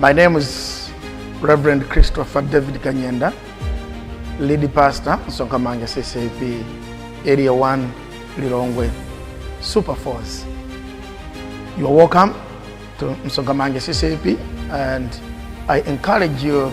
My name is Reverend Christopher David Kanyenda, lead pastor, Sonkamanga CCP, Area 1, Lilongwe, Super Force. You are welcome to Msongamange CCP and I encourage you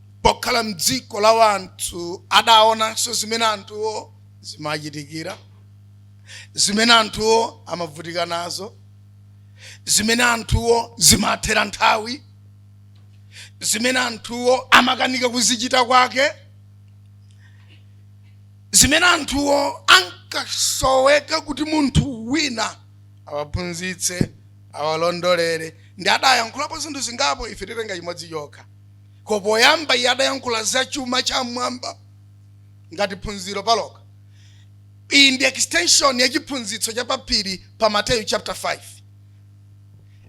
pokhala m'dziko la wanthu adaonanso zimene anthuwo zimachitikira zimene anthuwo amavutika nazo zimene anthuwo zimathera nthawi zimene anthuwo amakanika kuzichita kwake zimene anthuwo ankasoweka kuti munthu wina awaphunzitse awalondolere ndi adayankhulapo zinthu zingapo ife titenga chimodzi chokha Ko poyamba iye adayankhula za chuma cha m'mwamba ngati phunziro palokha. Iyi ndi extension ya chiphunzitso cha pa phiri pa Mateyu chapter 5.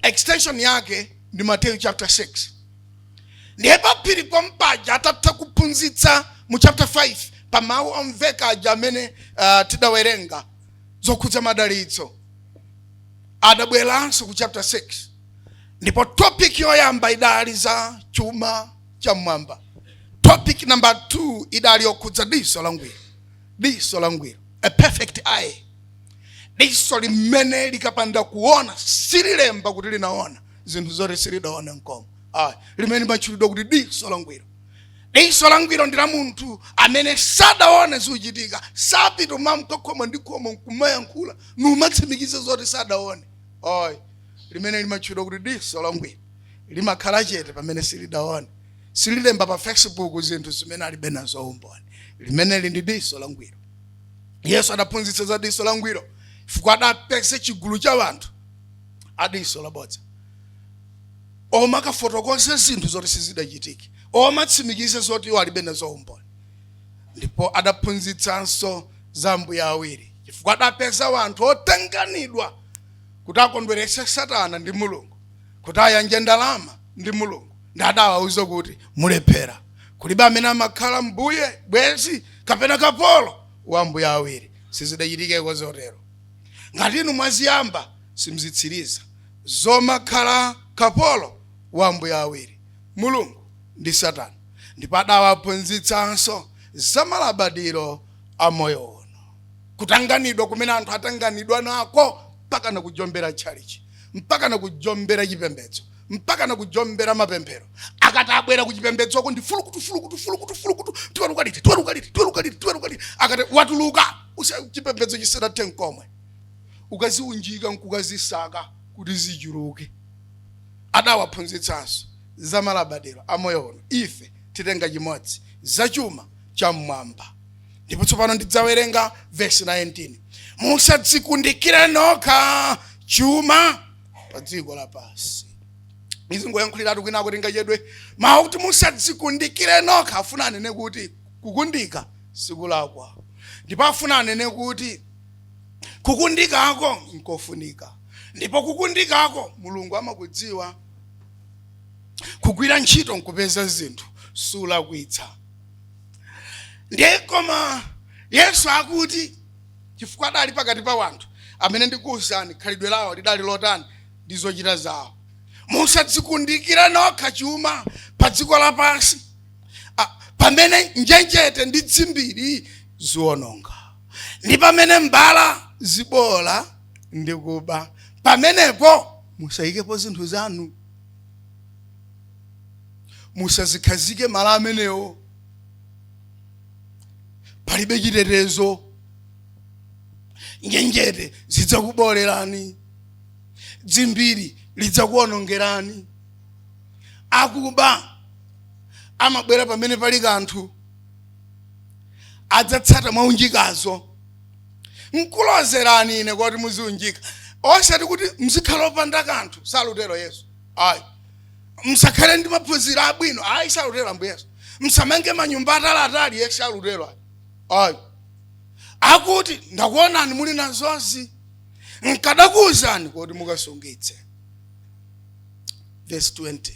Extension yake ndi Mateyu chapter 6. Ndiye pa phiri pompaja atatha kuphunzitsa mu chapter 5 pa mawu omveka aja amene uh, tidawerenga zokhudza madalitso adabweranso ku chapter 6 ndipo topic yoyamba idali za chuma cha mmwamba topic number 2 idali yokhudza diso langwiro diso langwiro a perfect eye diso limene likapanda kuona sililemba kuti linaona zinthu zoti silidaone nkomwe ayi limene limatchulidwa kuti diso langwiro diso langwiro ndi la munthu amene sadaone zikuchitika sapita umamka khomo ndi khomo nkumayankhula numatsimikiza zoti sadaone ayi limene limatchulidwa kuti diso langwiro limakhala chete pamene silidaone sililemba pa facebook zinthu zimene alibe nazo umboni limeneli ndi diso langwiro yesu adaphunzitsa za diso langwiro chifukwa adapeza chigulu cha anthu a diso labodza omakafotokoza zinthu zoti sizidachitike omatsimikiza zoti iwo alibe nazo umboni ndipo adaphunzitsanso za ambuye awiri chifukwa adapeza wanthu otanganidwa kuti akondweretse satana ndi mulungu kuti ayanje ndalama ndi mulungu ndi adawauza kuti mulephera kulibe amene amakhala mbuye bwenzi kapena kapolo wa ambuye awiri sizidachitikeko zotero ngati inu mwaziyamba simzitsiriza zomakhala kapolo wa ambuye awiri mulungu ndi satana ndipo adawaphunzitsanso za malabadiro a moyo uno kutanganidwa kumene anthu atanganidwa nako mpaka na kujombera tchalichi mpaka na kujombera chipembedzo mpaka na kujombera mapemphero akati abwera kuchipembedzoko ndi fulukutu fulukutu fulukutu fulukutu tiweruka liti tiweruka liti tiweruka liti tiweruka liti akati watuluka usa chipembedzo chisadathe nkomwe ukaziunjika nkukazisaka kuti zichuluke adawaphunzitsanso za malabadiro a moyo uno ife titenga chimodzi za chuma cha mmwamba ndipo tsopano ndidzawerenga vesi 19 musadzikundikire nokha chuma pa dziko lapansi izi ngoyankhuliratu kwinaku tingachedwe mawu kuti musadzikundikire nokha afuna anene kuti kukundika sikulakwa ndipo afuna anene kuti kukundikako nkofunika ndipo kukundikako mulungu amakudziwa kugwira ntchito nkupeza zinthu siulakwitsa ndiye koma yesu akuti chifukwa adali pakati pa wanthu amene ndikuwuzani khalidwe lawo lidali lotani ndi zochita zawo musadzikundikire nokha chuma pa dziko lapansi pamene njenjete ndi dzimbiri ziwononga ndi pamene mbala zibola ndi kuba pamenepo musayikepo zinthu zanu musazikhazike malo amenewo palibe chitetezo njenjete zidzakubolerani dzimbiri lidzakuonongerani akuba amabwera pamene pali kanthu adzatsata mwaunjikazo nkulozerani ine kuti mudziunjika osati kuti mdzikhala opanda kanthu salutero yesu ayi msakhale ndi maphunziro abwino ayi salutero ambuye yesu msamange manyumba ataliatali ayi salutero ayi akuti ndakuonani muli nazozi nkadakuwuzani kuti mukasungitse vesi 20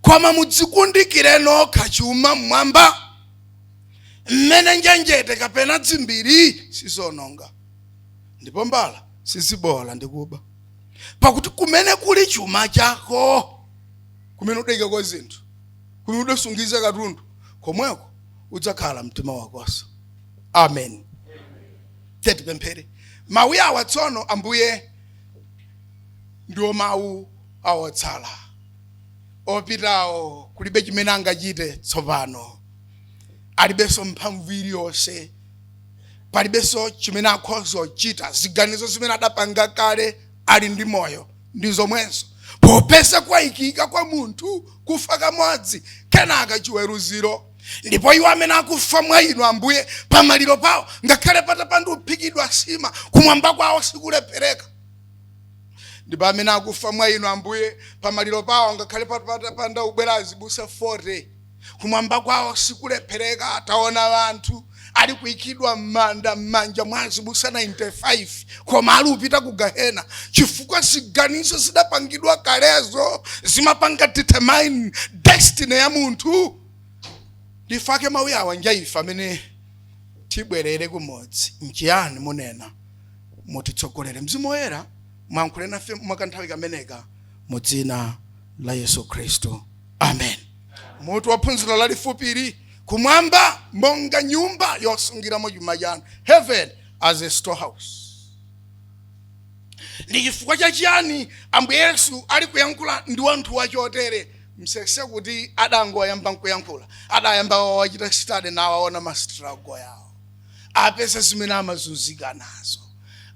koma mudzikundikire nokha chuma mmwamba mmene njenjete kapena dzimbiri sizononga ndipo mbala sizibola ndi kuba pakuti kumene kuli chuma chako kumene udayikako zinthu kumene udasungiza katundu komweko udzakhala mtima wakonso amen titi tipemphere mawu awa tsono ambuye ndiwo mawu awotsala opitawo kulibe chimene angachite tsopano alibenso mphamvu iliyonse palibenso chimene akhoza kuchita ziganizo zimene adapanga kale ali ndi moyo ndi zomwezo popeza kwayikika kwa munthu kufa kamodzi kenaka chiweruziro ndipo iwo amene akufa mwa inu ambuye pamaliro pawo ngakhale patapanda kuphikidwa sima kumwamba kwawo sikulephereka ndipo amene akufa mwa inu ambuye pamaliro pawo ngakhale patapanda kubwera azibusa 40 kumwamba kwawo sikulephereka taona anthu ali kuikidwa m'manda m'manja mwa azibusa 95 koma ali upita ku gahena chifukwa ziganizo zidapangidwa kalezo zimapanga determine destiny ya munthu ndi pake mawu awa njaife amene tibwerere kumodzi nchiyani munena mutitsogolere mzimu woyera muyankhule nafe mwakanthawi kameneka mu dzina la yesu khristu amen mutu wa phunziro lalifupili kumwamba monga nyumba yosungiramo chuma chanu heaven as a storehouse ndi chifukwa cha chiyani ambuye yesu ali kuyankhula ndi wanthu wachotere musayese kuti adangoyamba nkuyankhula adayamba wawachita study nawaona ma struggle yawo apeza zimene amazunzika nazo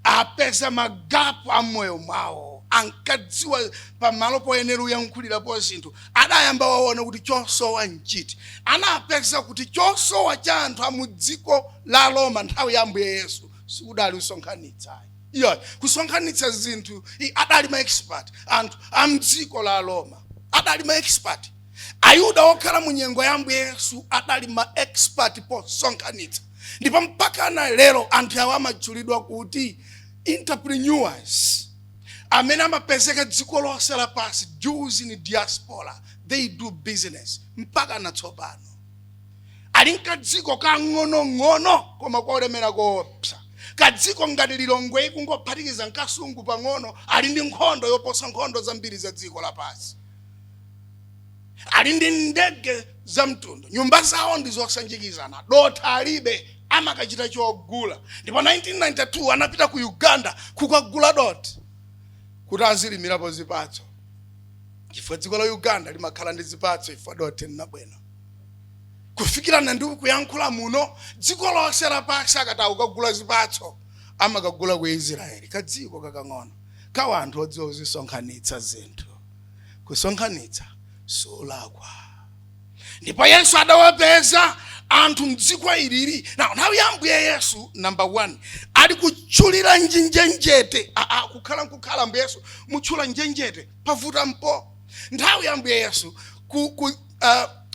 apeza magapu a mmoyo mwawo ankadziwa pamalo poyenera uyankhulirapo zinthu adayamba waona kuti chosowa nchiti anapeza kuti chosowa cha anthu amudziko la roma nthawi ya ambuye yesu sikudali kusonkhanitsa iyayi kusonkhanitsa zinthu i- adali ma expert anthu amdziko la roma adali ma expert ayuda okhala mu nyengo ya ambuye yesu adali ma expert posonkhanitsa ndipo mpaka na lero anthu awa amatchulidwa kuti entrepreneurs amene amapezeka dziko lonse lapansi jews in diaspora they do business mpaka na tsopano ali nkadziko kang'onong'ono koma kolemera koopsa kadziko ngati lilongweyi kungophatikiza nkasungu pang'ono ali ndi nkhondo yoposa nkhondo zambiri za dziko lapansi ali ndi ndege za mtundu nyumba zawo ndi zosanjikizana dothi alibe amakachita chogula ndipo 1992 anapita ku uganda kukagula dothi kuti azilimirapo zipatso chifukwa dziko la uganda limakhala ndi zipatso chifukwa dothi nlabwino kufikirana ndi kuyankhula muno dziko lonse lapansi akati akagule zipatso amakagula ku israeli kadziko kakang'ono ka wanthu odziwa kudzisonkhanitsa zinthu kusonkhanitsa sikulakwa ndipo yesu adawapeza anthu mdziko ilili now nthawi ya ambuye yesu namba 1 ali kutchulira njenjenjete aa kukhala nkukhala mbuye yesu mutchula njenjenjete pavuta mpo nthawi ya ambuye yesu ku, ku, uh,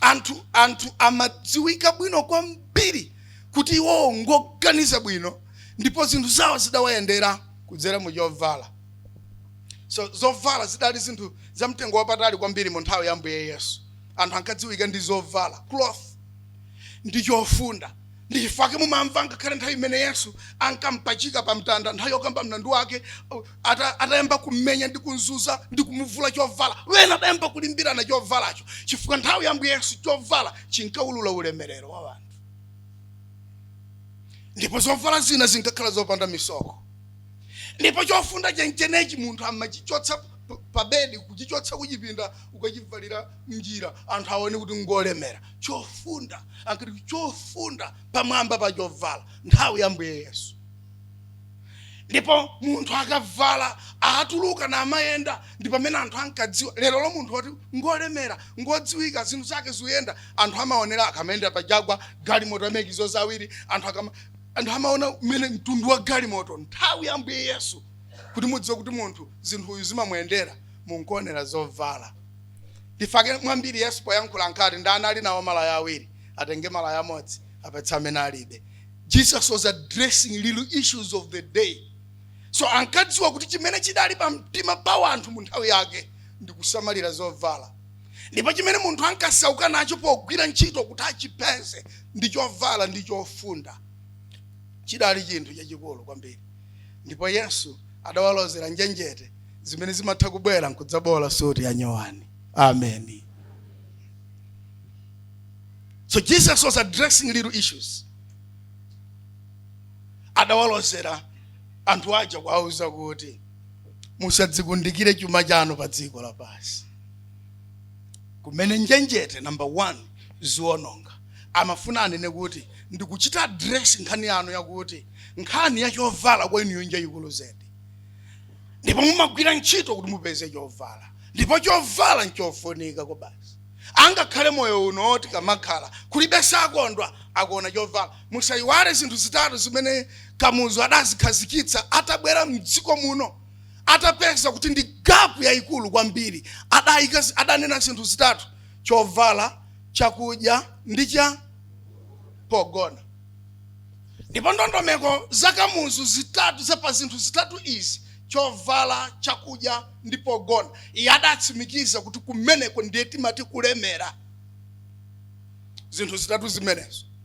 anthu anthu amadziwika bwino kwambiri kuti iwowo ngoganiza bwino ndipo zinthu zawo zidawayendera kudzera mu chovala so zovala zidali zinthu za mtengo wapatali kwambiri mu nthawi ya mbuye yesu anthu ankadziwika ndi zovala cloth ndi chofunda ndi chifukwa chake mumamva ngakhale nthawi imene yesu ankampachika pa mtanda nthawi yokamba mlandu wake atayamba kummenya ndi kumzuza ndi kumuvula chovala wena adayamba kulimbirana chovalacho chifukwa nthawi ya mbuye yesu chovala chinkaulula ulemerero wa anthu ndipo zovala zina zinkakhala zopanda misoko ndipo chofunda chenchenechi munthu amachichotsa pa bedi kuchichotsa kuchipinda ukachivalira mnjira anthu aone kuti ngolemera chofunda ankati chofunda pamwamba pa chovala nthawi ya mbuye yesu ndipo munthu akavala atuluka namayenda ndi pamene anthu ankadziwa lero lino munthu woti ngolemera ngodziwika zinthu zake zikuyenda anthu amaonera akamayenda pa jagwa galimoto amakizo zawiri anthu akama anthu amaona mmene mtundu wa galimoto nthawi ya ambuye yesu kuti mudziwe kuti munthu zinthu uyu zimamuyendera munkuonera zovala ndifake mwambiri yesu poyankhula ankati ndani ali nawo malaya awiri atenge malaya amodzi apatse amene alibe jesus was addressing little issues of the day so ankadziwa kuti chimene chidali pa mtima pa wanthu mu nthawi yake ndi kusamalira zovala ndipo chimene munthu ankasauka nacho pogwira ntchito kuti achipeze ndi chovala ndi chofunda chidali chinthu chachikulu kwambiri ndipo yesu adawalozera njenjete zimene zimatha kubwera nkudzabola suti ya nyowani ameni so jesus was addressing little issues adawalozera anthu aja kuwauza kuti musadzikundikire chuma chanu pa dziko lapansi kumene njenjete number one ziononga amafuna anene kuti ndikuchita address nkhani yanu yakuti nkhani ya chovala kwa inuyo njayikulu zedi ndipo mumagwira ntchito kuti mupeze chovala ndipo chovala nchofunika kwabasi ngakhale moyo uno oti kamakhala kulibe sakondwa akuona chovala musayiwale zinthu zitatu zimene kamuzu adazikhazikitsa atabwera mdziko muno atapeza kuti ndi gapu yayikulu kwambiri adai adanena zinthu zitatu chovala chakudya ndi cha pogona ndipo ndondomeko za kamuzu zitatu za pa zinthu zitatu izi chovala chakudya ndi pogona iye adatsimikiza kuti kumeneko ndiye timati kulemera zinthu zitatu zimenezo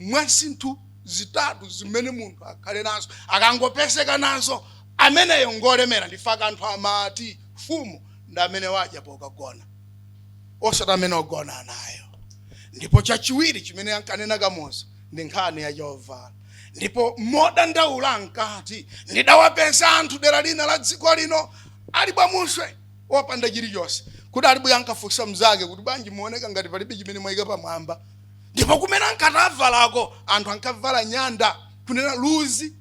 mwa zinthu zitatu zimene munthu akhale nazo akangopezeka nazo ameneyo ngolemera n'chifukwa anthu amati fumu ndi amene wadya pokagona osati amene ogona nayo ndipo chachiwiri chimene ankanena kamuzu ndi nkhani ya chovala ndipo modandaula ankati ndidawapeza anthu dera lina la dziko lino ali bwamuswe wopanda chilichonse kuti aliyense ankafunsa mnzake kuti bwanji muoneka ngati palibe chimene mwayika pamwamba ndipo kumene ankati avaleko anthu ankavala nyanda kunena luzi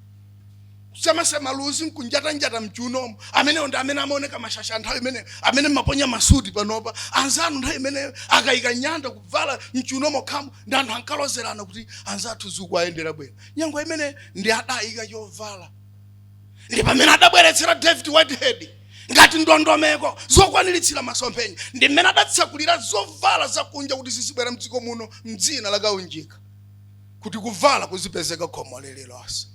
kusemasema luzi nkunjatanjata mchuunomo amenewo ndi amene amaoneka mashasha nthawi imeneyo amene mmaponya masuti panopa anzanu nthawi imeneyo akayika nyanda kuvala mchuunomo khamu la anthu ankalozerana kuti anzathu zikuwayendera bwino nyengo imene ndi adayika chovala ndi pamene adabweretsera david whitehead ngati ndondomeko zokwaniritsira masomphenya ndi mmene adatsakulira zovala zakunja kuti zizibwera mdziko muno mdzina la kaunjika kuti kuvala kuzipezeka khomo lililonse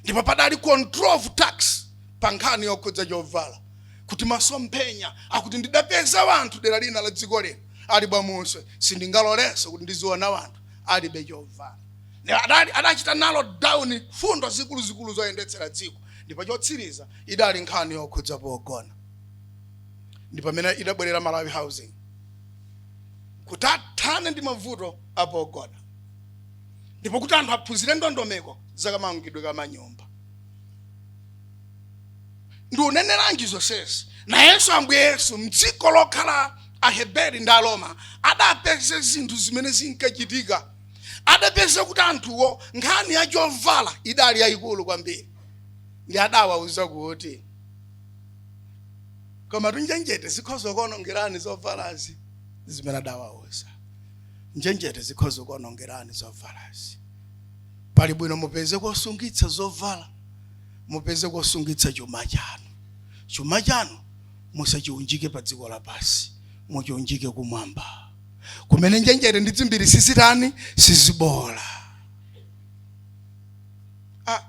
ndipo padali control of tax pa nkhani yokhudza chovala kuti masomphenya akuti ndidapeza wanthu dera lina la dziko lino ali bwamuswe sindingalolenso kuti ndiziona wanthu alibe chovala adachita narrow down fundo zikuluzikulu zoyendetsera dziko ndipo chotsiriza idali nkhani yokhudza pogona ndi pamene idabwerera malawi housing kuti athane ndi mavuto apogona ndipo kuti anthu aphunzire ndondomeko zakamangidwe ka manyumba ndikuneneranji zonsezi nayenso ambuye yesu mdziko lokhala aheberi ndi aroma adapeza zinthu zimene zinkachitika adapeza kuti anthuwo nkhani ya chovala idali yayikulu kwambiri ndi adawauza kuti komatu njenjete zikhoza kuonongerani zovalazi zimene adawauza njenjete zikhoza kuonongerani zovalazi pali bwino mupeze kosungitsa zovala mupeze kosungitsa chuma chanu chuma chanu musachiunjike pa dziko lapansi muchiunjike kumwamba kumene njenjete ndi dzimbiri sizitani sizibola ah,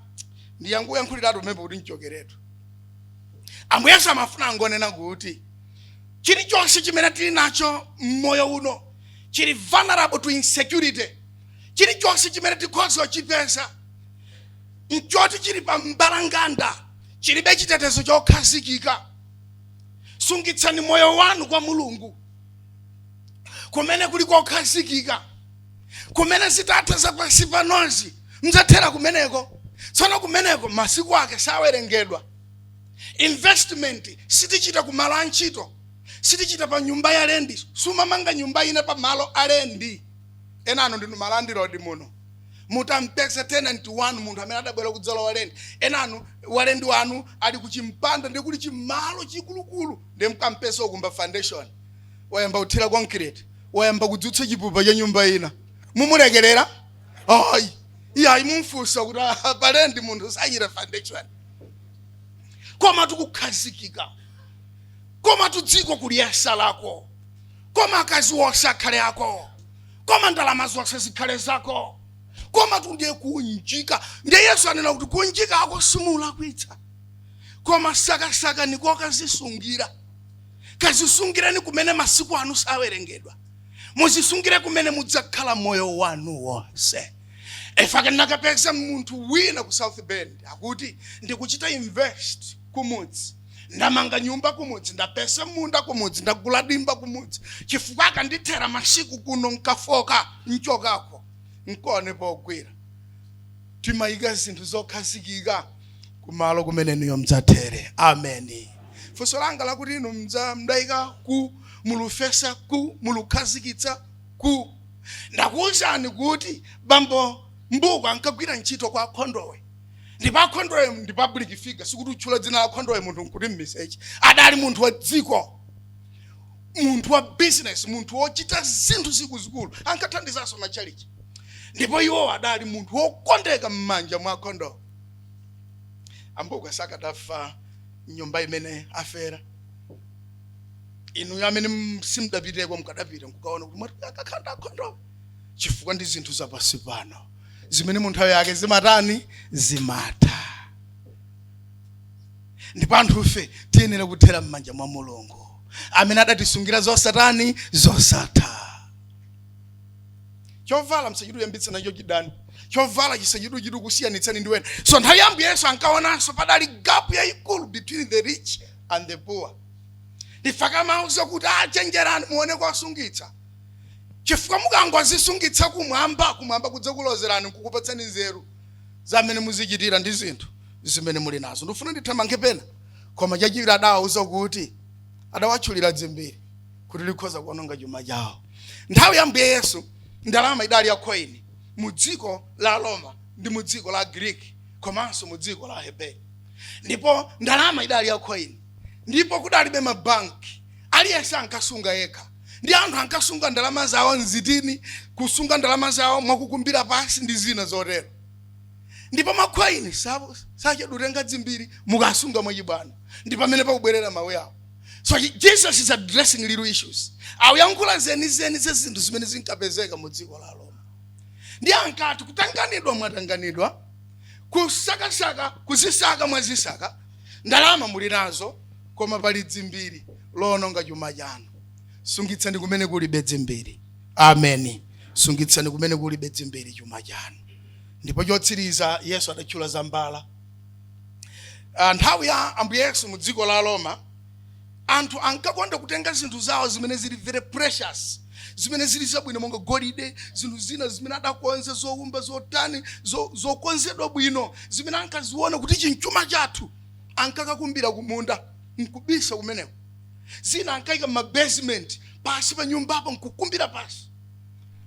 ndiyankhuyankhuliretu pomwepo kuti ndichokeretu ambuye yesu amafuna angonena kuti chilichonse chimene tili nacho mmoyo uno chili vulnerable to insecurity chilichonse chimene tikhoza kuchipeza nchoti chili pa mbalambanda chilibe chitetezo chokhazikika sungitsani moyo wanu kwa mulungu kumene kuli kokhazikika kumene zitatha za pansi panozi mdzathera kumeneko tsono kumeneko masiku ake sawerengedwa investment sitichita kumalo a ntchito sitichita pa nyumba ya lendi sumamanga nyumba ina pa malo a lendi enanu ndinu malandilodi muno mutampeza tenant wanu munthu amene adabwera kudzalowa lendi yenanu walendi wanu ali kuchimpanda ndi kuli chimalo chikulukulu Nde mkampeza akukumba foundation, wayamba kuthira concrete, wayamba kudzutsa chipupa cha nyumba ina. Mumulekerera? Ayi. Iyayi mumfunsa kuti "Ah, palendi munthu sachita foundation. Komatu kukhazikika. Komatu dziko kuliyesa lako. Koma akazi wonse akhale ako. Koma ndalama zonse zikhale zako. Komatu ndiye kunjika. Ndiye Yesu anena kuti kunjikako simulakwitsa. koma sakasakani kokazisungira kazisungireni kumene masiku anu sawerengedwa muzisungire kumene mudzakhala moyo wanu wonse ife nakapeza munthu wina ku south bend akuti ndikuchita invest kumudzi ndamanga nyumba kumudzi ndapeza munda kumudzi ndagula dimba kumudzi chifukwa akandithera masiku kuno nkafoka nchokako nkuone pogwira timayika zinthu zokhazikika kumalo kumene inuyo mdzathere ameni funso langa lakuti inu mdza- mdayika kuti mulufesa kuti mulukhazikitsa kuti ndakuwuzani kuti bambo mbukwa ankagwira ntchito kwa a khondowe ndipo a khondowe ndi public figure sikuti utchula dzina la a khondowe munthu nkuti mmiseche adali munthu wa dziko munthu wa business munthu wochita zinthu zikuluzikulu ankathandizanso machalichi ndipo iwo adali munthu wokondeka m'manja mwa a khondowe a mbukwa sakadafa nyumba imene afera inu amene m- simudapiteko mukadapita nkukaona kuti mwati akakhala nda khondowe chifukwa ndi zinthu zapansi pano zimene mu nthawi yake zimatani zimatha ndipo anthufe tiyenera kuthera m'manja mwa mulungu amene adatisungira zosatani zosatha chovala msachiduyambitsa nacho chidani chovala chisachidukusiyanitsani ndi wena so nthawi ya ambuye yesu ankaonanso padali gap yayikulu between the rich and the poor ndifaka mawu zokuti achenjerani muone kosungitsa chifukwa mukangozisungitsa kumwamba kumwamba kudzakulozerani nkukupatsani nzeru zamene muzichitira ndi zinthu zimene muli nazo ndifuna ndithamange pena koma chachiwiri adawauza kuti adawatchulira dzimbiri kuti likhoza kuononga chuma chawo nthawi ya mbuye yesu ndalama idali ya coin mu dziko la roma ndi mu dziko la greek komanso mu dziko la heberi ndipo ndalama idali ya coin ndipo kudalibe mabanki aliyense ankasunga yekha ndi anthu ankasunga ndalama zawo mzitini kusunga ndalama zawo mwakukumbira pansi ndi zina zotero ndipo macoin sachedwa kutenga dzimbiri mukasunga mwachibwana ndi pamene pakubwerera mawu yawo so he, jesus is addressing real issues akuyankhula zenizeni za zinthu zimene zinkapezeka mu dziko la roma ndi ankati kutanganidwa mwatanganidwa kusakasaka kuzisaka mwazisaka ndalama muli nazo koma pali dzimbiri loononga chuma chanu sungitsani kumene kulibe dzimbiri ameni sungitsani kumene kulibe dzimbiri chuma chanu ndipo chotsiriza yesu adatchula za mbala Ah, nthawi ya ambuye yesu mu dziko la roma anthu ankakonda kutenga zinthu zawo zimene zili very precious zimene zili zabwino monga golide zinthu zina zimene adakonza zoumba zotani zo- zokonzedwa bwino zimene ankaziona kuti nchuma chathu ankakakumbira kumunda nkubisa kumeneko zina ankayika mabasement pasi pa nyumbapo nkukumbira pasi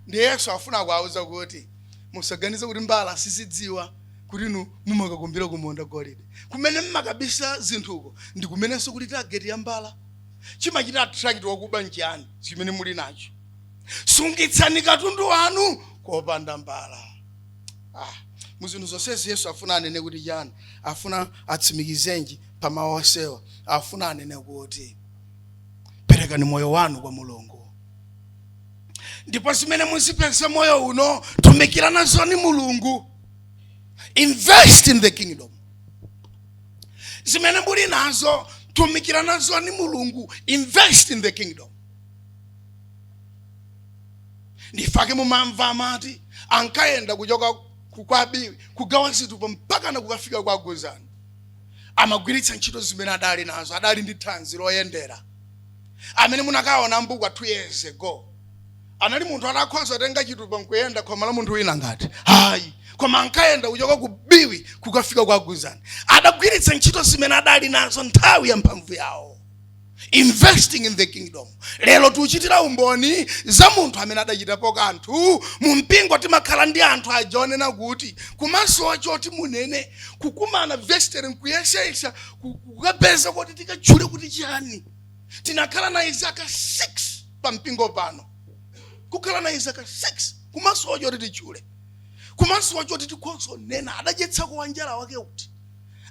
ndi yesu afuna kuwauza kuti musaganize kuti mbala sizidziwa kuti inu mumakakumbira kumunda golide kumene mmakabisa zinthuko ndi kumenenso kuli tageti ya mbala chimachita attract wakuba nchiyani chimene muli nacho sungitsani katundu wanu kopanda mbala ah, mu zinthu zonsezi yesu afuna anene kuti chani afuna atsimikizenji pa mawu onsewa afuna anene kuti perekani moyo wanu kwa mulungu ndipo zimene muzipeza moyo uno tumikirani nazoni mulungu invest in the kingdom zimene muli nazo tumikirani nazoni mulungu invest in the kingdom ndifake mumamva amati ankayenda kuchoka ku- kwa biwi kugawa zitupa mpaka na kukafika kwa aguzani amagwiritsa ntchito zimene adali nazo adali ndi thanzi loyendera amene munakaona mbukwa two years ago anali munthu wotakhoza kutenga chitupa nkuyenda khomo la munthu wina ngati hayi koma ankayenda kuchoka ku biwi kukafika kwa guzani adagwiritsa ntchito zimene adali nazo nthawi ya mphamvu yawo investing in the kingdom lero tiuchitira umboni za munthu amene adachitapo kanthu mu mpingo timakhala ndi anthu aja onena kuti kumasowa choti munene kukumana vestry nkuyeseyesa ku- kukapeza kuti tikatchule kuti chiyani tinakhala naye zaka 6 pa mpingo pano kukhala naye zaka 6 kumasowa choti titchule kumasowa choti tikhonzo nena adadyetsako wanjala wake kuti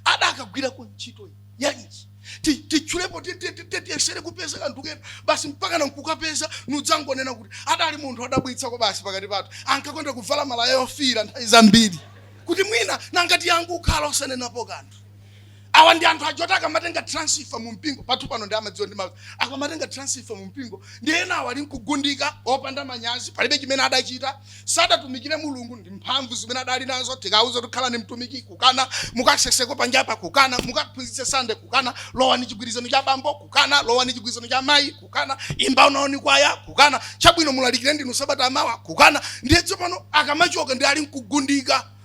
adakagwirako ntchito yanji Ti- titchulepo ti- ti- ti- ti- tiyesere kupeza kanthu kena basi mpaka nankukapeza nudzangonena kuti adali munthu odabwitsako basi pakati pathu ankakonda kuvala malaya ofiira nthawi zambiri kuti mwina nanga tingango ukhala osanenapo kanthu awa ndi anthu aja oti akamatenga transfer mu mpingo pathu pano ndi amadziwa ndi mawu akamatenga transfer mu mpingo ndi ena awa ali nkugundika opanda manyazi palibe chimene adachita sadatumikire mulungu ndi mphamvu zimene adali nazo tikawauza takhalani mtumiki kukana mukaseseko panjapa kukana mukaphunzitse sande kukana lowani chigwirizano cha abambo kukana lowani chigwirizano cha amayi kukana imbakonani kwaya kukana chabwino mulalikire ndinu sabata lamawa kukana ndiye tsopano akamachoka ndi ali nkugundika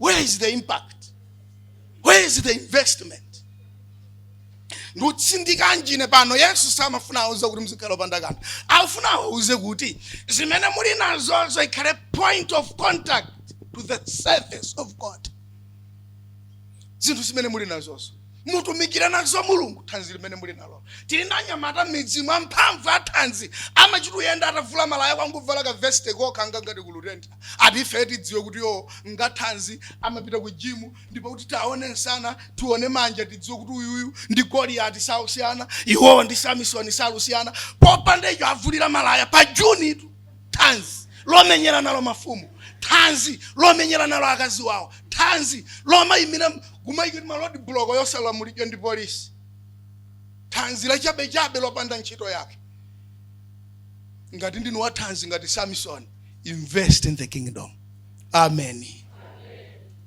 where is the impact where is the investment ndikutsindikanji ine pano yesu samafuna awauze kuti mzikhala opanda kanthu afuna awauze kuti zimene muli nazozo ikhale point of contact to the service of god zinthu zimene muli nazozo mutumikire nazo mulungu thanzi limene muli nalo tili ndi anyamata m'midzimu amphamvu athanzi amachita uyenda atavula malaya kungovala ka veste kokha ngangati kulutentha ati ife tidziwe kuti iwo ngathanzi amapita ku jimu ndipo kuti tione nsana tione manja tidziwe kuti uyuyu ndi goliyati salusiyana iwowo ndi samisoni salusiyana popanda icho avulirira malaya pa junitu thanzi lomenyera nalo mafumu thanzi lomenyera nalo akazi wawo thanzi lomayimira kumayikira ma rodi buloko osalamulidwa ndi polisi thanzi lachabechabe lopanda ntchito yake ngati ndinu wa thanzi ngati samson invest in the kingdom amen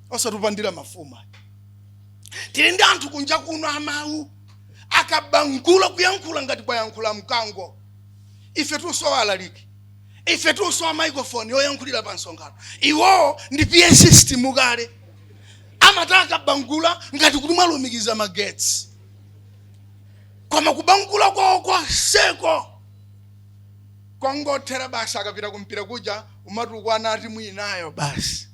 osati kupandira mafumu tili ndi anthu kunja kuno amawu akabangula kuyankhula ngati kwayankhula mkango ife tikusowa alaliki ife tikusowa microphone yoyankhulira pa msonkhano iwowo ndi pa system kale amati akabangula ngati kuti mwalumikiza magetsi koma kubangula kwawo konseko kongothera basi akapita kumpira kuja kumatukwana a timu inayo basi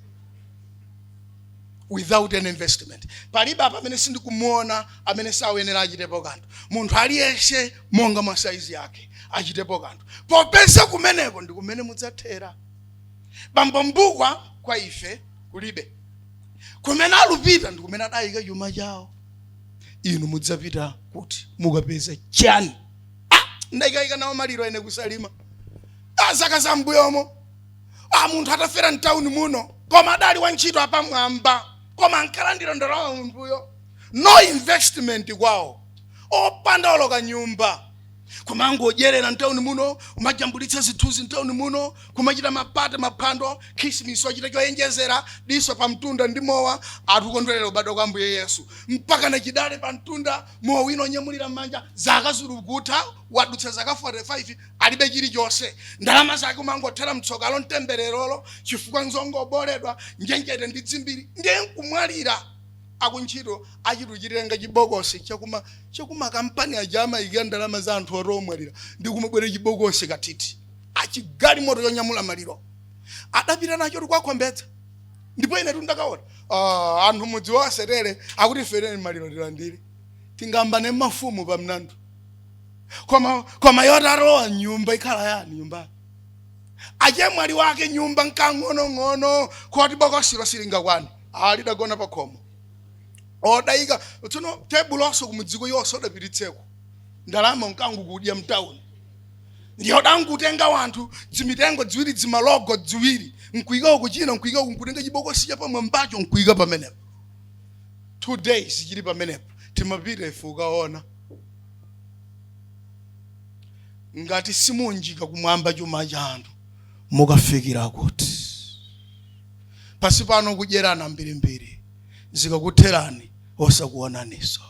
without an investment palibe apa amene sindikumuona amene sayenera achitepo kanthu munthu aliyense monga mwa saizi yake achitepo kanthu popeza kumeneko ndi kumene mudzathera bambo mbukwa kwa ife kulibe kumene alupita ndi kumene adayika chuma chawo inu mudzapita kuti mukapeze chani ah, ndayikayika nawo maliro ena ku salima ah, zaka za mbuyomo munthu atafera mtawuni muno koma adali wa ntchito apamwamba koma ankalandira ndalama munthuyo no investment kwawo opanda olo kanyumba kumangodyerera mtawuni muno kumajambulitsa zithunzi mtawuni muno kumachita mapate maphwando khisimis wachita choyenjezera diso pa mtunda ndi mowa ati kukondwerera ubadwa kwa ambuye yesu mpaka na chidale pa mtunda mowa wina wonyamulira m'manja zaka zilukutha wadutsa zaka 45 alibe chilichonse ndalama zake kumangothera mtsokalo mtembererolo chifukwa nzongooboledwa njenjete ndi dzimbiri ndiye nkumwalira akuntchito achituchitirenga chibokosi chakuma chakuma kampani aja amayikiratu ndalama za anthu oti omwalira ndi kumabwera chibokosi katiti chigalimoto chonyamula maliro adapita nacho tikwakombedza ndipo ine tundakaona ah, anthu mudzi wasetere akuti fereni maliro tilandire tingambane mafumu pamnandu koma koma yoti alowa nyumba ikhala yani nyumba achemwali wake nyumba nkang'onong'ono koti bokosilo silingakwane lidagona pa khomo odayika tsono tebulonso kumudziko yense odapititseko ndalama nkangukudya mtawuni ndiyo adangotenga wanthu dzimitengo dziwiri dzimalogo dziwiri nkuika uku china nkuika uku nkutenga chibokosi cha pamwambacho nkuika pamenepo two days chili pamenepo timapita ife kukaona ngati simuunjika kumwamba chuma chanu mukafikira kuti pansi pano kudyerana mbirimbiri zikakutherani osakuonaninso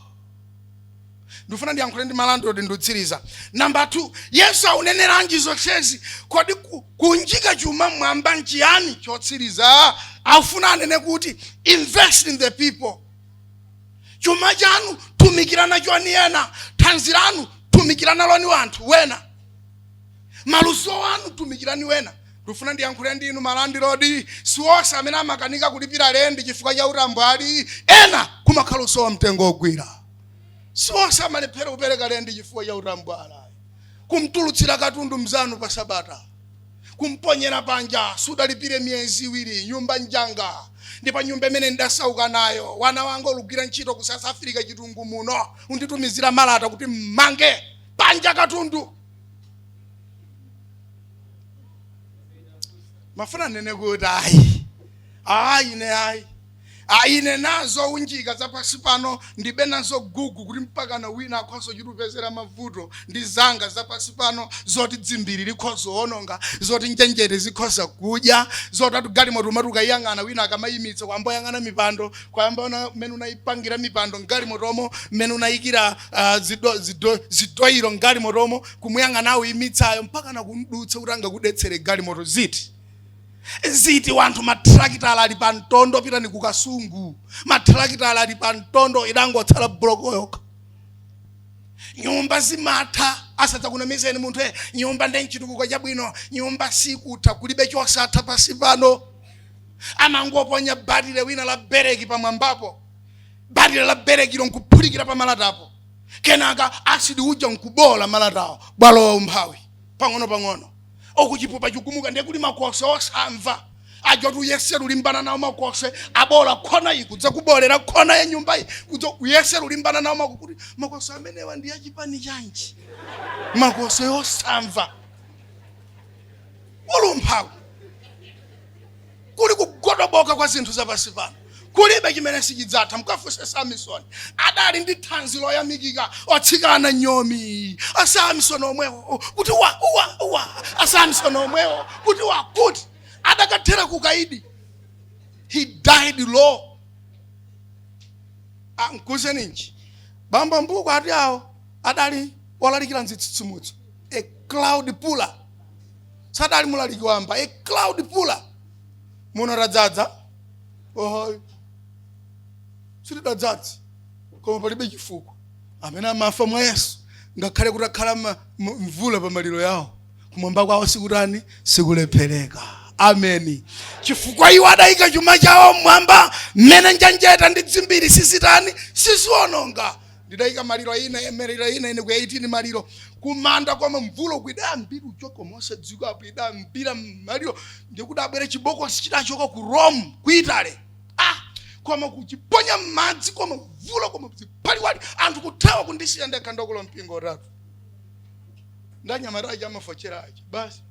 ndifuna ndiyankhule ndi malandilodi ndikutsiriza namba 2 yesu auneneranji zonsezi kodi ku- kunjika chuma mwamba nchiyani chotsiriza afuna anene kuti invest in the people chuma chanu tumikira nachoni ena thanzi lanu tumikira naloni wanthu wena maluso anu tumikirani wena ndifuna ndiyankhule ndi inu malandilodi siwonse amene amakanika kulipira lendi chifukwa cha utambwali ena kumakhala kusowa mtengo wogwira siwonse amalephera kupereka lendi chifukwa cha utambwali kumtulutsira katundu mzanu pa sabata kumponyera panja sudalipire miyezi iwiri nyumba njanga ndipo nyumba imene ndidasauka nayo wana wanga olugwira ntchito ku south africa chitungu muno kunditumizira malata kuti mmange panja katundu mmafuna nnene kuti ayi ayi ne ayi Ah, ine nazo zounjika za pansi pano ndilibe nazo gugu kuti mpakana wina akhoza chitupezera mavuto ndi zanga za pansi pano zoti dzimbiri likhoza kuononga zoti njenjete zikhoza kudya zoti atugalimoto umati ukayiyang'ana wina akamayimitsa kuyamba kuyang'ana mipando kuyamba kuona mmene unayipangira mipando mgalimotomo mmene unayikira ah, zido- zido- zidoyiro mgalimotomo kumuyang'ana woimitsayo mpakana kumdutsa kuti angakudetsere galimoto ziti ziti anthu matrakitala ali pa mtondo pitani ku Kasungu matrakitala ali pa mtondo idangotsala buloko yokha nyumba zimatha asadzakunamizeni munthu e nyumba nde nchitukuko chabwino nyumba sikutha kulibe chosatha pansi pano amangoponya batire wina la bereki pamwambapo batire la berekilo nkuphulikira pa malatapo kenaka asidi uja nkubola malatawo walowa umphawi pang'ono pang'ono uku chipupa chikugumuka ndiye kuli makoswe osamva aja oti uyese kulimbana nawo makoswe aboola kona iyi kudzakuboolera kona ya nyumba iyi kudza uyese kulimbana nawo mako kuti makoswe amenewa ndi achipani chanji makoswe osamva kulumphawo kuli kugodoboka kwa zinthu zapansi pano kulibe chimene sichidzatha mkafunse Samisoni adali ndi thanzi loyamikika otsikana nyomi asamisoni omwewo kuti wa uwa uwa asamisoni omwewo kuti wakuti adakathera kukaidi he died low nkuuzeninji bambo Mbuka ati awo adali olalikira mzitsitsimutso a crowd puller sadali mulaliki wamba a crowd puller muno tadzadza ohoyo sitidadzadze koma palibe chifukwa amene amafa mwa Yesu ngakhale kuti akhala ma- m- mvula pa maliro yawo kumwamba kwawo sikutani sikulephereka ameni chifukwa iwo adayika chuma chawo mmwamba mmene njenjete ndi dzimbiri sizitani siziononga ndidaika maliro ina maliro ina ine ku 18 maliro kumanda koma mvula uku idayambira uchoko mosadziwika apo idayambira maliro ndipo kudabwera chibokosi chidachoka ku Rome ku Italy ah koma kuchiponya m'madzi koma mvula koma ziphaliwali anthu kuthawa kundisiya ndekha ndi akulu ampingo atatu ndi anyamata aja amafotsera aja basi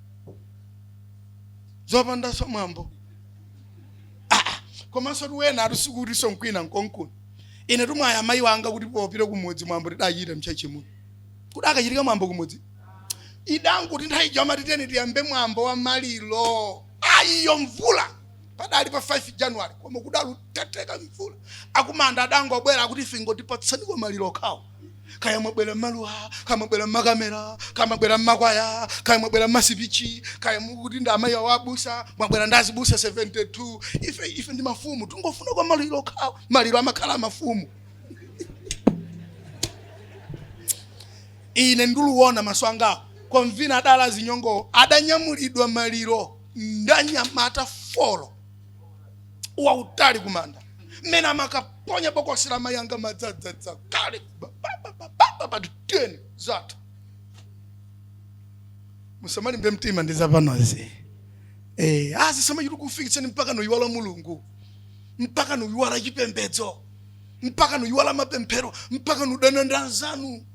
zopandanso mwambo Ah, ah, komanso tiwena atisikuti sonkwina nkonkuni ine atamwalira mayi wanga kuti popita kumudzi mwambo tidachita mtchalitchi muno kudakachitika mwambo kumudzi idangoti nthawi ija amati tiyeni tiyambe mwambo wa maliro ayiyo mvula padali pa 5 january koma kudali kuteteka mvula akumanda adangobwera akuti ife ingotipatsaniko maliro okhawo kaya mwabwera mmaluwa kaya mwabwera mmakamera kaya mwabwera mmakwaya kaya mwabwera mmasipichi kaya mukuti ndi amayi wa abusa mwabwera ndi azibusa 72 ife ife ndi mafumu tingofuna kwa maliro okha maliro amakhala mafumu ine nduluona maso angawa konvina adali zinyongo adanyamulidwa maliro ndanyamata folo wautali kumanda mmene amakaponya bokosi la mayi anga nadzadzadza kale pati teni zathu musamalimbe mtima ndi zapanozi eh, zisamachite kukufikitsani mpaka nuyiwala mulungu mpaka nuyiwala chipembedzo mpaka nuyiwala mapemphero mpaka nudana ndi anzanu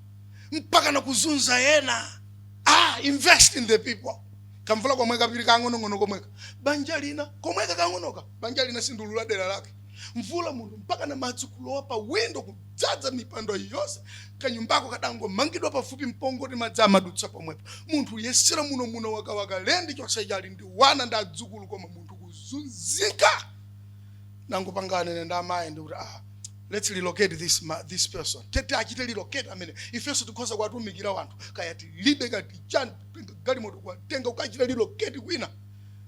mpaka nakuzunza ena ah, invest in the people kamvula komweka pili kang'onong'ono komweka banja lina komweka kang'onoka banja lina sindiulula dera lake mvula munthu mpaka na madzi kulowa pa windo kudzaza mipando yonse kanyumbako kadangomangidwa pafupi mpongoti madzi amadutsa pomwepo munthu yesera muno muno wakawaka lendi chonse chali ndi wana ndi adzukulu koma munthu kuzunzika nangopangana ine ndi amayi ndi kuti ah let's relocate this, ma, this person tete achite relocate amene ifenso tikhoza kuwatumikira wanthu kaya tilibe katichani tenga galimoto kwa tenga ukachita relocate kwina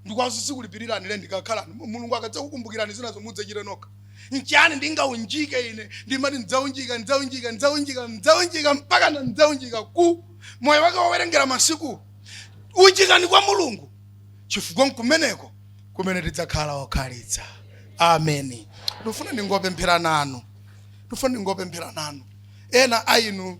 ndikuwauza ndizikulipilirani lendi kakhalani Mu- mulungu akadzakukumbukirani zina zomwe mudzachite nokha nchiyani ndingaunjike ine ndimati ndidzaunjika ndidzaunjika ndidzaunjika ndidzaunjika mpaka na ndidzaunjika ku moyo wake wowerengera masiku unjikani kwa mulungu chifukwa nkumeneko kumene tidzakhala okhalitsa amen ndifuna ndingopemphera nanu ndifuna ndingopemphera nanu ena a inu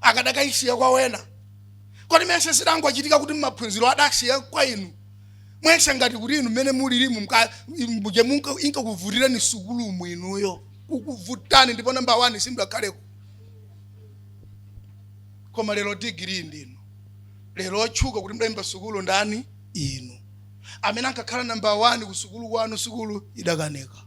akadakaisiya kwa wena kodi mmesa zidangochitika kuti maphunziro adasiya kwa inu mwese ngati kuti inu mmene mulirimu mka- muja munka- inkakuvutirani sukulu mwinuyo inkakuvutani ndipo namba wani simudakhaleko koma lero digiri ndinu lero otchuka kuti mudayimba sukulu ndani inu amene ankakhala namba wani ku sukulu kwanu sukulu idakaneka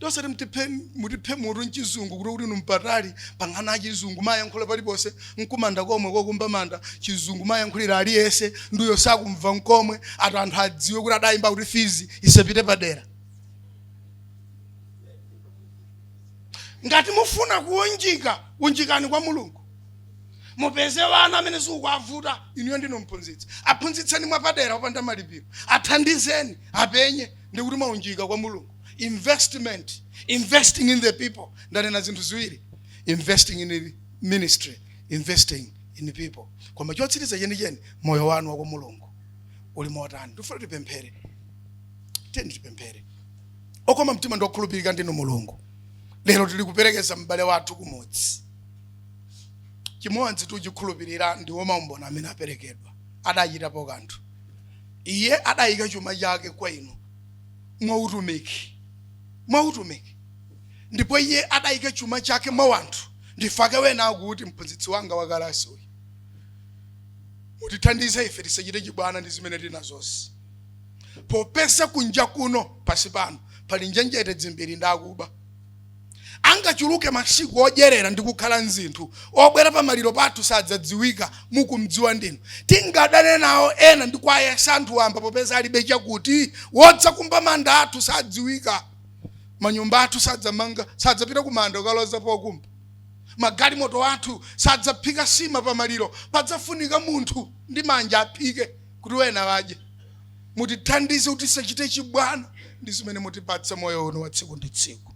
osati mtiphe mutiphe mutu nchizungu kuti kuti inu mpatali pang'ono chizungu mayankhula paliponse nkumanda komwe kokumba manda chizungu mayankhulira aliyese ndiyo sakumva nkomwe ati anthu adziwe kuti adayimba kuti fizi isapite padera ngati mufuna kuunjika unjikani kwa mulungu mupeze vana amene zikuwavuta inuyo ndinu mphunzitsi aphunzitseni mwapadera opanda malipiro athandizeni apenye ndikuti mwaunjika kwa mulungu investment investing in the people ndanena zinthu ziwiri investing in the ministry investing in the people koma chotsiriza chenicheni moyo wanu wa kwa mulungu uli motani tifuna tipemphere tiyeni tipemphere okoma mtima ndi okhulupirika ndinu mulungu lero tili kuperekeza m'bale wathu kumudzi chimodzi tichikhulupirira ndiwo maumboni amene aperekedwa adachitapo kanthu iye adayika chuma chake kwa inu mwa utumiki, mwa utumiki. Ndipo iye adayika chuma chake mwa wanthu. Nchifake wena akuti mphunzitsi wanga wa kalasi uyu, mutithandize ife tisachite chibwana ndi zimene tili nazozi. Popeza kunja kuno pasi pano pali njenjete dzimbiri ndi akuba. Angachuluke masiku odyerera ndi kukhala nzinthu, obwera pa maliro pathu sadzadziwika, mukumdziwa ndinu. Tingadane nawo ena ndi kuwayesa anthu wamba popeza alibe chakuti, wodzakumba manda athu sadziwika. Manyumba athu sadzamanga, sadzapita ku manda kukaloza pokumba. Magalimoto athu sadzaphika sima pa maliro, padzafunika munthu ndi manja aphike kuti wena wadye. mutithandize kuti tisachite chibwana ndi zimene mutipatsa moyo uno wa tsiku ndi tsiku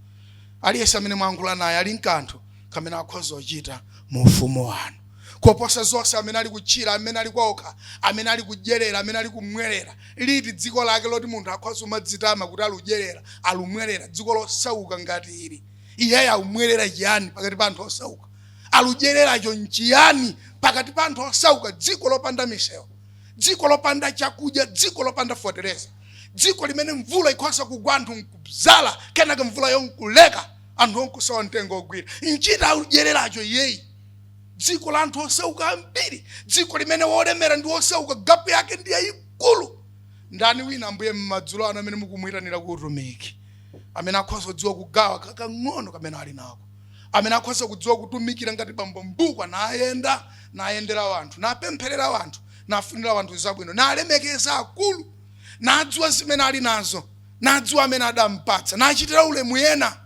aliyense amene mwayankhula naye ali nkanthu kamene akhoza kuchita mu ufumu wanu koposa zonse amene ali kutchira amene ali kwaokha amene ali kudyerera amene ali kumwerera liti dziko lake loti munthu akhoza kumadzitama kuti aludyerera alumwerera dziko losauka ngati ili iyeyo aumwerera chiyani pakati pa anthu osauka aludyereracho nchiyani pakati pa anthu osauka dziko lopanda misewu dziko lopanda chakudya dziko lopanda fotereza dziko limene mvula ikhoza kugwa anthu nkubzala kenaka mvulayo nkuleka anthuwo nkusowa mtengo wogwira nchiyani akudyereracho iyeyi dziko la anthu osauka ambiri dziko limene wolemera ndi wosauka gapu yake ndi yayikulu ndani wina ambuye mmadzulo ano amene mukumuyitanira ku utumiki amene akhoza kudziwa kugawa kakang'ono kamene ali nako amene akhoza kudziwa kutumikira ngati bambo mbukwa nayenda nayendera wanthu napempherera wanthu nafunira wanthu zabwino nalemekeza akulu nadziwa zimene ali nazo nadziwa amene adampatsa nachitira ulemu ena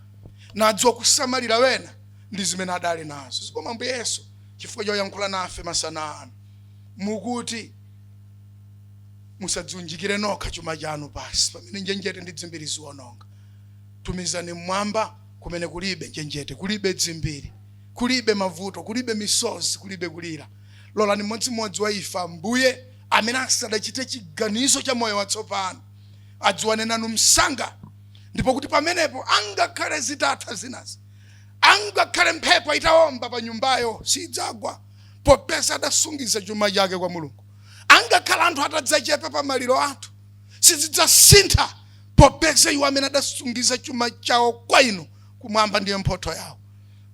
nadziwa kusamalira wena ndi zimene adali nazo zikomo ambuye yesu chifukwa choyankhula nafe masana ano mukuti musadziunjikire nokha chuma chanu pasi pamene njenjete ndi dzimbiri ziwononga tumizani mmwamba kumene kulibe njenjete kulibe dzimbiri kulibe mavuto kulibe misozi kulibe kulira lolani mmodzi mmodzi wa ife ambuye amene asadachite chiganizo cha moyo watsopano adziwane nanu msanga ndipo kuti pamenepo angakhale zitatha zinazi angakhale mphepo itawomba pa nyumbayo sidzagwa popeza adasungiza chuma chake kwa mulungu angakhale anthu atadzachepa pa maliro athu sizidzasintha popeza iwo amene adasungiza chuma chawo kwa inu kumwamba ndiye mphotho yawo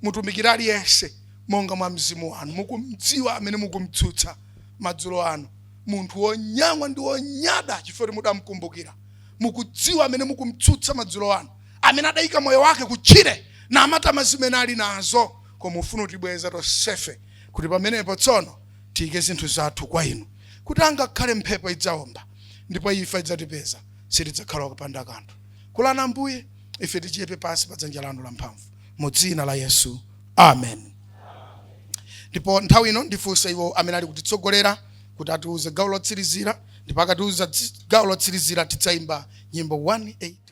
mutumikira aliyense monga mwa mzimu wanu mukumdziwa amene mukumtsutsa madzulo anu munthu wonyanwa ndi wonyada chifukwa choti mudamkumbukira mukudziwa amene mukumtsutsa madzulo anu amene adayika moyo wake kutchire namatama zimene ali nazo koma ufuna utibweza tonsefe kuti pamenepo tsono tiyike zinthu zathu kwa inu kuti angakhale mphepo idzaomba ndipo imfa idzatipeza sitidzakhala kupanda kanthu lolani ambuye ife tichepe pansi pa dzanja lanu lamphamvu mu dzina la yesu amen ndipo nthawi ino ndifunse iwo amene ali kutitsogolera kuti atiuze gawo lotsirizira ndipo akatiuza tsi- gawo lotsirizira tidzayimba nyimbo 181